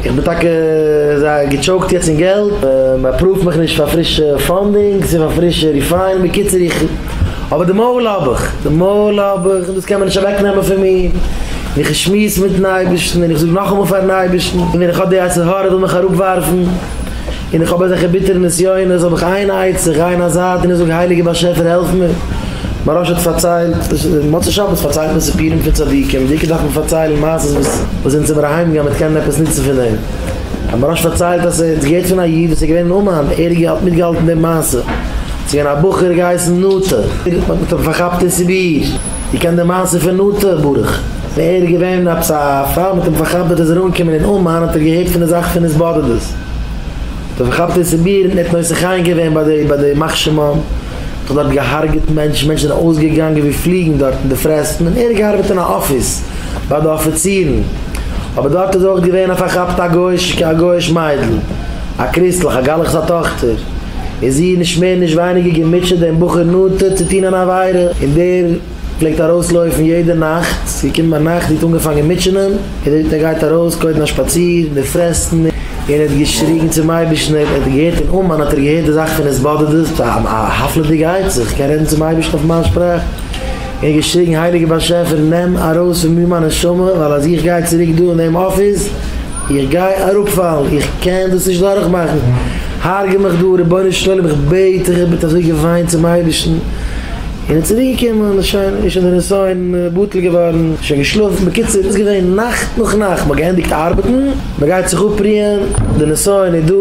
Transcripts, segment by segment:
איך בין טאקע זייער געטשאוקט יעצט אין געלט, מען אפראווט מיך נישט פאר פרישע פאנדינגס און פאר פרישע ריפיינענס, בקיצור איך, אבער די מוהל האב איך, די מוהל האב איך און דאס קען מען נישט אוועק נעמען פון מיר, און איך שמועס מיטן אייבערשטן און איך זאג נאכאמאל פארן אייבערשטן, און ווען איך האב די יצר הרע וויל מיך אראפ ווארפן. און איך האב אזעלכע ביטערע נסיונות האב איך איין עצה, איך גיי אין א זייט און איך זאג הייליגער באשעפער העלף מיר, מהרש האט פארציילט, מוצאי שבת פארציילט מען סיפורים פון צדיקים, דוקא דארף מען פארציילן מעשות וואס זינט זעמער אהיים געגאנגען מ'האט קענען עפעס נוצן פון דעם, האט מהרש פארציילט אז ס'האט געהערט פון א איד וואס איז געווען אין אומאן, ער האט מיטגעהאלטן דעם מעשה, ס'איז געווען א בחור געהייסן נטע, מ'האט אים פארכאפט אין סיביר, איר קענט די מעשה פון נטע ברוך? ער איז געווען עפעס א פאר מ'האט אים פארכאפט וועט ער זאל אנקומען אין אומאן האט ער געהערט פון די זאך פון התבודדות, דער פארכאפטער איז צו מיר און ער האט נושא חן געווען ביי די ביי די יימח שמם, מען האט דארט געהארגעט מענטשן, מענטשן זענען אויסגעגאנגען ווי פליגן דארט אין די פרעסטן און ער האט געארבעט אין א אפיס ביי די אפיצירן, אבער דארט איז אויך געווען א פארכאפטע א גוי'אישע א גוי'איש מיידל, א קריסטליך א גלח'ס א טאכטער, איז זי נישט מער נישט ווייניגער געמוטשעט דעם בחור נאנטער צו טון אן עבירה, און דער. פלעגט ארויס לויפן יעדע נאכט, ס'איז געקומען ביינאכט און האט אנגעפאנגען מיטשענען, געזען ווי ער גייט ארויס קודם א שפאציר אין די פרעסטן, און ער האט געשריגן צום אייבערשטן, ער האט געהערט אין אומאן האט ער געהערט די זאך פון עס באדערט עס, א הפלא'דיגע עצה, איך קען רעדן צום אייבערשטן אויף מיין שפראך, און האט געשריגן הייליגער באשעפער נעם ארויס פון מיר מיין נשמה, ווייל אז איך גיי צוריק דא אין דעם אפיס, איך גיי אראפפאלן, איך קען דאס נישט דורכמאכן, הרג'ע מיך דא רבונו של עולם, איך בעט דיך, ער האט אזוי געוויינט צום אייבערשטן. און איז צוריק געקומען איז שוין איז שוין די נסיון בטל געווארן איז שוין געשלאפן בקיצור איז געווען נאכט נאך נאכט מ'האט געענדיגט ארבעטן מ'גייט זיך אפרוען די נסיון איז דא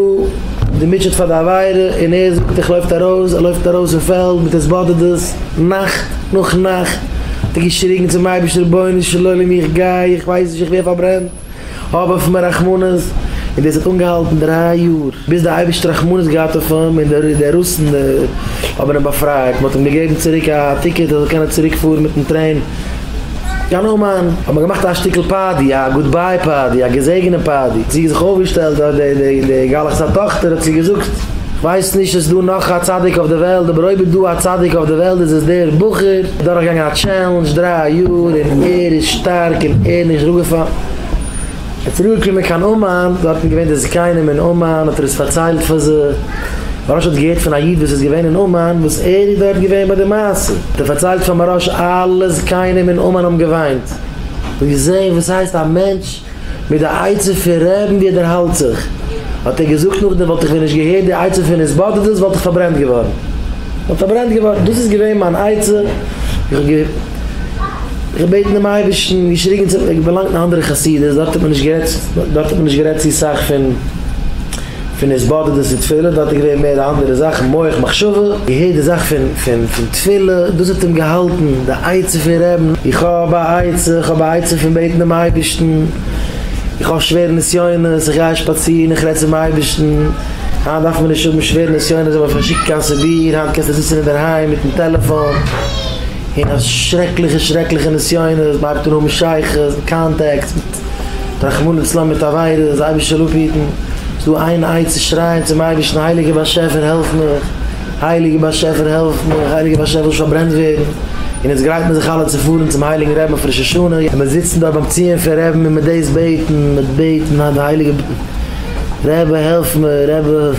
די מוטשעט פאר די עבירה און ער זאגט איך לויפט ארויס ער לויפט ארויס אין פעלד מיט התבודדות נאכט נאך נאכט האט ער געשריגן צום אייבערשטער רבונו של עולם איך גיי איך ווייס נישט איך ווער פארברענט. האב אויף אים רחמנות, און דאס האט אנגעהאלטן דריי יאר, ביז דער אייבערשטער האט רחמנות געהאט אויף אים, און די רוסן האבן אים באפרייט, מען האט אים געגעבן צוריק א טיקעט ער זאל קענען צוריק פארן מיטן טרעין קיין אומאן, האט מען געמאכט א שטיקל פארטי, א גוד ביי פארטי, א געזעגענע פארטי, זי האט זיך אויפגעשטעלט, די גלח'ס א טאכטער האט צו איר געזאגט, כ'ווייס נישט עס איז דא נאך א צדיק אויף די וועלט, אבער אויב איז דא א צדיק אויף די וועלט איז עס דער בחור. דורכגעגאנגען א טשעלענדזש דריי יאר און ער איז שטארק און ער נישט דורכגעפאלן. ער איז צוריק געקומען קיין אומאן, דארט איז געווען די זקנים אין אומאן האט ער עס פארציילט פאר זיי. מהראש האט געהערט פון א איד וואס איז געווען אין אומאן וואס ער איז דארט געווען ביי די מעשה, האט ער פארציילט פאר מהראש, אלע זקנים אין אומאן האבן געוויינט, און געזעהן וואס הייסט א מענטש, מיט די עצה פון רעבן ווי ער דערהאלט זיך, האט ער געזאגט נאכדעם וואלט איך ווען נישט געהערט די עצה פון התבודדות וואלט איך פארברענט געווארן, וואלט פארברענט געווארן, דאס איז געווען מיין עצה, איך האב געבעטן דעם אייבערשטן, געשריגן צו אים, איך בין געלאנגט אין א אנדערע חסידות, דארט האט מען נישט גערעדט, דארט האט מען נישט גערעדט צו סאך פון. פון עס באדערט דאס צו תפילה דארט איז געווען מער די אנדערע זאכן מח מחשבה איהר די זאך פון תפילה דאס האט אים געהאלטן די עצה פון רעבן איך האב א עצה איך האב א עצה פון בעטן דעם אייבערשטן איך האב שווערע נסיונות איך גיי שפאצירן איך רעד צום אייבערשטן היינט דארף מען נישט האבן שווערע נסיונות זיי וועלן שוין שיקן קיין סיביר היינט קענסטו זיצן אינדערהיים מיטן טעלעפאן און אז שרעקליכע שרעקליכע נסיונות מען הייבט אן האבן שייכות און קאנטעקטס מיט רחמנא לצלן מיט עבירות, אז אייבערשטער לאזט היטן, איז דא איין עצה צו שרייען צום אייבערשטן הייליגער באשעפער העלף מיך, הייליגער באשעפער העלף מיך, הייליגער באשעפער איך וויל נישט פארברענט ווערן, און אונז גרייט מיר זיך אלע צו פארן צום הייליגן רבין אויף ראש השנה, און מיר זיצן דארט ביים ציון פון רבין און מיר דאס בעטן, מיר בעטן אז דער הייליגער רבי העלף מיר, רבי.